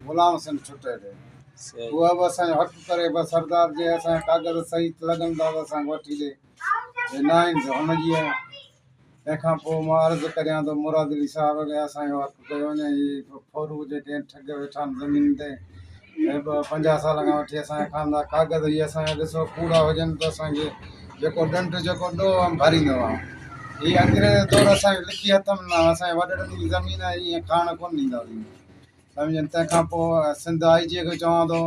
غلام حسين ٺٽير، اها به اسان جو حق ڪري بس سردار جي اسان جا ڪاغذ صحيح لڳن ٿا ته اسان کي وٺي ڏي، جي ناهن ته هن جي آهي. تنهن کان پوء مان عرض ڪريان ٿو مراد علي صاحب کي اسان جو حق ڪيو وڃي ۽ هي ڦورو جيڪي ٺڳ ويٺا آهن زمين تي ۽ ٻه پنجاهه سالن کان وٺي اسان جا کاندا ڪاغذ هي اسان جا ڏسو ڪوڙا هجن ته اسان کي جيڪو ڏنڊ جيڪو ڏوهه هئم ڀريندو هئم. هي انگريز دور اسان کي لکي هٿ ۾ نه آهي، اسان جي وڏڙن جي زمين آهي، ايئن کاڻ ڪونه ڏينداسين. سمجهيم تنهن کان پوء سنڌ آء جي کي چوان ٿو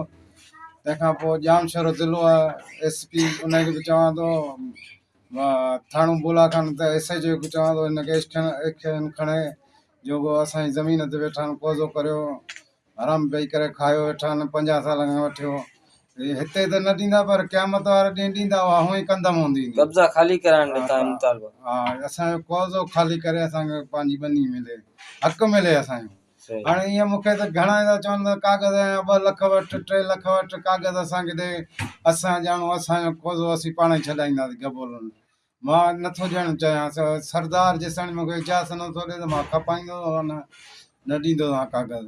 تنهن کان پوء ڄامشورو ضلعو آء ايس پي ان کي به چوان ٿو ٿاڻو بولا خان ته ايس ايچ او کي چوان ٿو هن کي ايڪشن کڻي جو ڪو اسان جي زمين تي ويٺا آهن قوضو ڪريو حرام پئي ڪري کايو ويٺا آهن پنجاهه سال کان وٺيو هتي ته نه ڏيندا پر قيامت واري ڏينهن ڏيندا اها هونئي ڪندم هوندي قبضا خالي ڪرائڻ جو تايون مطالبو ها اسان جو قوضو خالي ڪري اسان کي پنهنجي ٻني ملي حق ملي اسان جو هاڻي ايئن مون کي ته گهڻا ايندا چون ته ڪاغذ ايا ٻه لک وٺ، ٽي لک وٺ، ڪاغذ اسان کي ڏي، اسان ڄاڻو اسان جو ڪوزو اسين پاڻ ئي ڇڏائينداسين گبولن. مان نه ٿو ڏيڻ چاهيان، سردار جيستائين مون کي اجازت نه ٿو ڏي ته مان کپائيندو هان نه، نه ڏيندو هان ڪاغذ.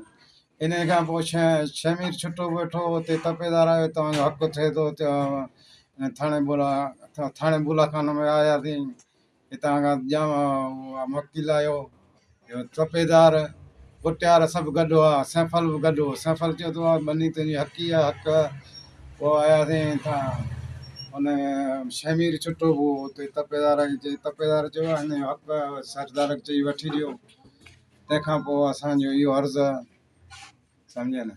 انهيء کان پوء شهمير ڇٽو به ويٺو هو، اتي تپيدار آيو، توهان جو حق ٿئي ٿو، ٿاڻي بولا، ٿاڻي بولاخانه ۾ آياسين، هتان کان ڄام اها مڪي لاهيو، جو ٽپيدار، ڪٽيار سڀ گڏ هئا، سينڦل به گڏ هو. سينڦل چيو ته اها ٻني تنهنجي حقي آهي، حق آهي. پوء آياسين هتان، ان شهمير ڇٽو به هو، اتي ٽپيدار کي چئي، ٽپيدار چيو اها هن جو حق آهي، اها سردار کي چئي وٺي ڏيو. تنهن کان پوء اسان جو اهو عرض آهي. سمجهيئي نه؟